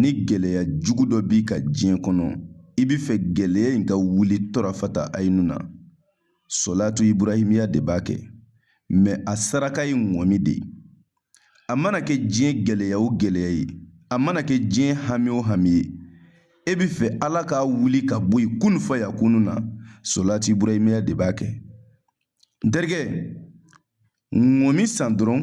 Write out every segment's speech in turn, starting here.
ni gɛlɛya jugu dɔ b'i ka diɲɛ kɔnɔ i bɛ fɛ gɛlɛya in ka wuli tɔrɔfata ayenu na sɔlatu iburahimiya de b'a kɛ mɛ a saraka ye ŋɔmi de ye a mana kɛ diɲɛ gɛlɛya o gɛlɛya ye a mana kɛ diɲɛ hami o hami ye e bɛ fɛ ala k'a wuli ka bɔ yen kun fa ya kunu na sɔlatu iburahimiya de b'a kɛ n terikɛ ŋɔmi san dɔrɔn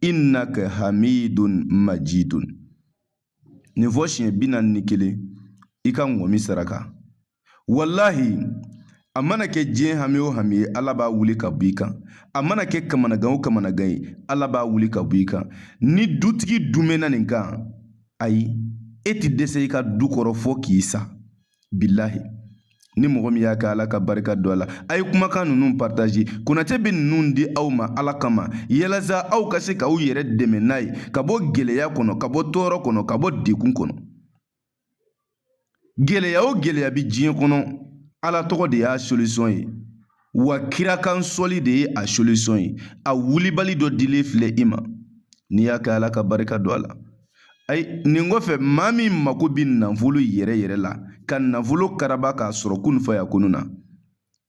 innaka hamidun majidun nin fɔ siɲɛ bi naani ni kelen i ka ŋɔmi saraka walahi a mana kɛ diɲɛ hami o hami ye ala b'a wuli ka b'i kan a mana kɛ kamanagan o kamanagan ye ala b'a wuli ka b'i kan ni dutigi dumɛnna nin kan ayi e ti dɛsɛ i ka du kɔrɔ fɔ k'i sa bilahi ni mɔgɔ min y'a kɛ ala ka barika don a la a ye kumakan ninnu partaze konatɛ bɛ ninnu di aw ma ala kama yalasa aw ka se k'aw yɛrɛ dɛmɛ n'a ye ka bɔ gɛlɛya kɔnɔ ka bɔ tɔɔrɔ kɔnɔ ka bɔ degun kɔnɔ gɛlɛya o gɛlɛya bɛ diɲɛ kɔnɔ ala tɔgɔ de y'a solisɔn ye wa kira kan sɔli de ye a solisɔn ye a wulibali dɔ dilen filɛ i ma n'i y'a kɛ ala ka barika don a la ayi nin kɔfɛ maa min mako bɛ nafolo yɛrɛ yɛrɛ la ka nafolo karaba k'a sɔrɔ kun fa ya kunu na n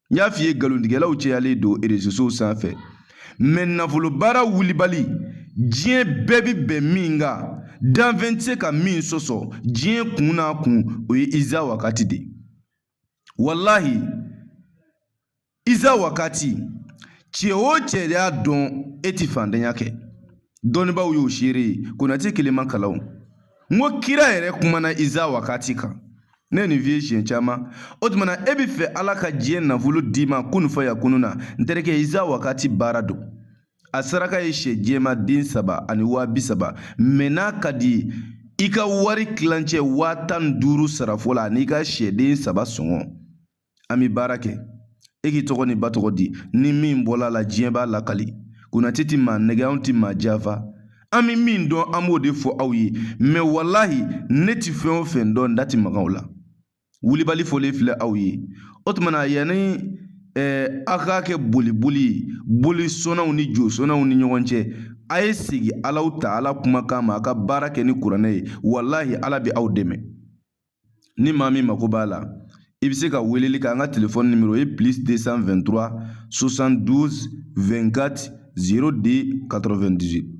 y'a f'i ye nkalontigɛlaw cɛyalen don erezosow sanfɛ mɛ nafolo baara wulibali diɲɛ bɛɛ bɛ bɛn min kan danfɛn tɛ se ka min sɔsɔ diɲɛ kun n'a kun o ye iza wakati de ye walahi iza wakati cɛ o cɛ y'a dɔn e ti fantanya kɛ dɔnnibaaw y'o seere ye konatɛ kelen ma kalan n ko kira yɛrɛ kumana iza wakati kan ne ye nin f'i ye siɲɛ caman o tumana e bɛ fɛ ala ka diɲɛ nafolo d'i ma kun fa ya kunu na n terikɛ iza wakati baara don a saraka ye sɛ jɛman den saba ani waa bi saba mɛ n'a ka di i ka wari tilancɛ waa tan ni duuru sara fɔlɔ n'i ka sɛden saba sɔngɔ an bɛ baara kɛ e k'i tɔgɔ n'i ba tɔgɔ di ni min bɔla a la diɲɛ b'a lakali konatɛ ti maa nɛgɛn anw ti maa janfa an bɛ min dɔn an b'o de fɔ aw ye mɛ walahi ne ti fɛn o fɛn dɔn n da ti maga o la wulibali fɔlen filɛ aw ye o tuma na yanni aw k'a kɛ boli boli ye boli sɔnnaw ni jo sɔnnaw ni ɲɔgɔn cɛ a ye segin alahu taala kumakan ma a ka baara kɛ ni kuranɛ ye walahi ala bɛ aw dɛmɛ ni maa min mako b'a la i bɛ se ka weleli kɛ an ka telefɔni nimoro ye plus 223 72 24 02 98